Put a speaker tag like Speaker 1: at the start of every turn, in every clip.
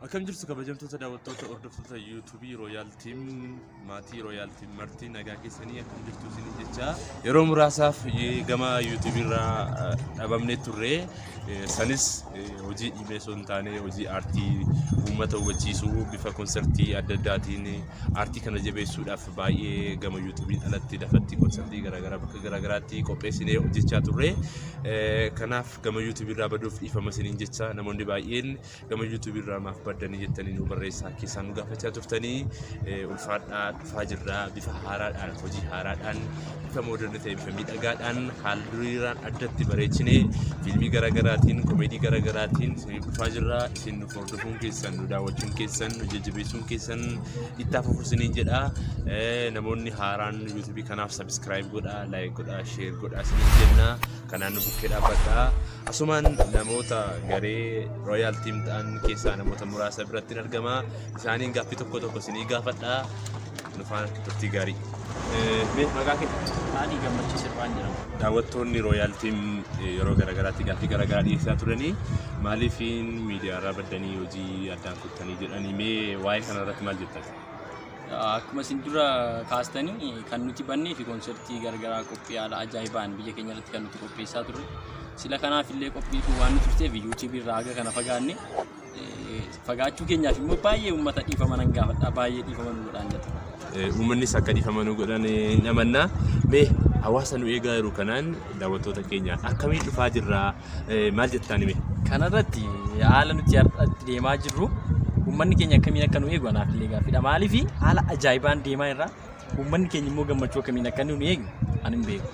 Speaker 1: Akkam jirtu kabajamtoota daawwattoota hordoftoota yuutuubii Rooyaal Tiim maatii Rooyaal Tiim martii nagaa keessanii akkam jirtu isin jecha yeroo muraasaaf gama yuutuubii irraa dhabamnee turre Sanis hojii dhiibee osoo hin taane hojii aartii uummata hubachiisuu bifa konsartii adda addaatiin aartii kana jabeessuudhaaf baay'ee gama yuutuubiin alatti lafatti konsartii garaagaraa bakka garaagaraatti qopheessinee hojjechaa turre. Kanaaf gama yuutuubii irraa baduuf dhiifama isiniin jecha namoonni baay'een gama YouTube irraa maaf baddanii jettanii nu barreessaa keessaa nu gaafachaa turtanii ulfaadhaa dhufaa jirra bifa haaraadhaan hojii haaraadhaan bifa mooderni ta'e bifa miidhagaadhaan haal duriiraan addatti bareechinee fiilmii garaagaraatiin komeedii garaagaraatiin isiniif dhufaa jirra isin nu hordofuun keessan nu daawwachuun keessan nu jajjabeessuun keessan itti hafuuf isiniin jedha namoonni haaraan YouTube kanaaf subscribe godhaa like godhaa share godhaa isiniin jenna Kanaan nu bukkee dhaabbadhaa. Asumaan namoota garee Royal Team ta'an keessaa namoota muraasa biratti hin argama. Isaaniin gaaffii tokko tokko isinii gaafadhaa. Nu faana turtii gaarii. Mee maqaa kee? Ani gammachiis
Speaker 2: irraan jedhama. Daawwattoonni Royal Team
Speaker 1: yeroo garaagaraatti gaaffii garaagaraa dhiyeessaa turanii maaliif miidiyaarraa baddanii hojii addaan kuttanii jedhanii mee waa'ee kanarratti maal jettan? Akkuma
Speaker 2: isin dura kaastanii kan nuti bannee fi konsertii garagaraa qophii haala ajaa'ibaan biyya keenya irratti kan nuti qopheessaa turre. Sila kanaaf illee qophii kun waan nu turteef yuutuubii irraa haga kana fagaanne. Eh, Fagaachuu keenyaaf immoo baay'ee uummata dhiifama nan gaafadha. Baay'ee dhiifama nu godhaan jata. Uummannis akka
Speaker 1: dhiifama nu godhan hin amanna. Mee hawaasa nu eegaa jiru kanaan daawwattoota keenya akkamiin dhufaa jirraa? maal jettaan hime? Kanarratti
Speaker 2: haala nuti har'a itti deemaa jirru uummanni keenya akkamiin akka nu eegu anaaf illee gaaffiidha. Maaliif haala ajaa'ibaan deemaa irraa uummanni keenya immoo gammachuu akkamiin akka nu eegu ani hin beeku.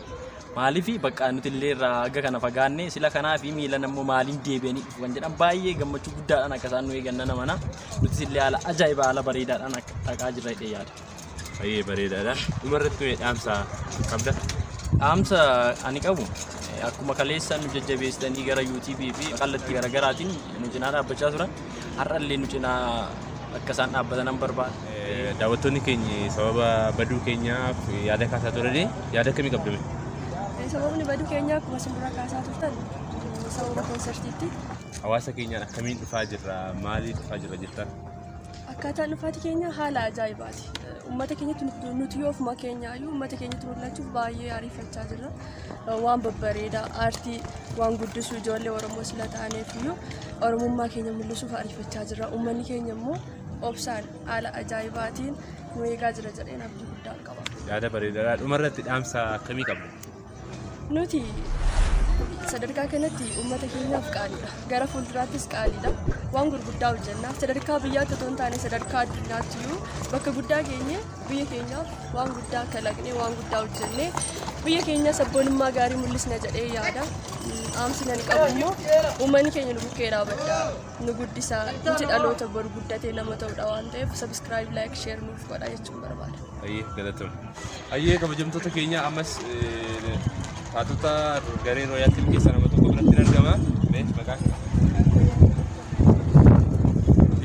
Speaker 2: Maaliif bakka nuti illee irraa hanga kana fagaanne sila kanaa fi miilan ammoo maaliin deebi'anii dhufu kan jedhan baay'ee gammachuu guddaadhaan akka isaan nu eegan nan amana. Nutis illee haala ajaa'ibaa haala bareedaadhaan akka dhaqaa jirra jedhee yaada. Baay'ee bareedaadha.
Speaker 1: Dhuma irratti mee dhaamsa qabda? Dhaamsa
Speaker 2: ani qabu eh, akkuma kaleessa nu jajjabeessitanii gara YouTube fi kallattii garaagaraatiin nu cinaa dhaabbachaa turan har'allee nu cinaa akka isaan dhaabbatan nan barbaada. Eh, Daawwattoonni keenya
Speaker 1: sababa baduu keenyaaf yaada kaasaa turanii yaada akkamii qabda mee? Sababni
Speaker 3: baduu keenyaa akkuma isin dura kaasaa turtan sababa koonsartiitti. Hawaasa keenyaan
Speaker 1: akkamiin dhufaa jirra? Maaliif dhufaa jirra jettan? Akkaataan
Speaker 3: dhufaatii keenya haala ajaa'ibaati. Uummata keenyatti nuti- nuti yoo ofuma keenya iyyuu uummata keenyatti mul'achuuf baay'ee ariifachaa jirra. Waan babbareedaa aartii waan guddisu ijoollee Oromoo sila taaneef iyyuu Oromummaa keenya mul'isuuf ariifachaa jirra. Uummanni keenya immoo obsaan haala ajaa'ibaatiin nu eegaa jira jedheen abdii guddaa qaba. Yaada bareedaadha.
Speaker 1: Dhumarratti dhaamsa akkamii qabda? Nuti
Speaker 3: sadarkaa kanatti uummata keenyaaf qaaliidha. Gara fuulduraattis qaaliidha. Waan gurguddaa hojjenna. Sadarkaa biyyaatti otoo hin taane sadarkaa addunyaatti iyyuu bakka guddaa geenye biyya keenyaaf waan guddaa kalaqnee waan guddaa hojjennee biyya keenya sabboonummaa gaarii mul'isna jedhee yaada. Dhaamsi nani qabu immoo uummanni keenya nu bukkee dhaabadha. nu guddisa nuti dhaloota bor guddatee nama ta'udha waan ta'eef sabiskiraayib laayik sheer nuuf godha jechuun barbaada. Ayyee galatoon.
Speaker 1: Ayyee kabajamtoota keenya ammas eh, taatota garee rooyaatiin keessa nama tokko biratti hin argama. Mee maqaa kee?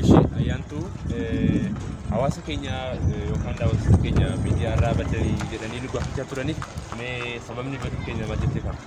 Speaker 1: Ishii ayyaantuu eh, hawaasa keenya eh, yookaan daawwattoota keenya miidiyaa irraa baddanii jedhanii nu gaafachaa turanii mee sababni baduu keenya maal jettee fakkata?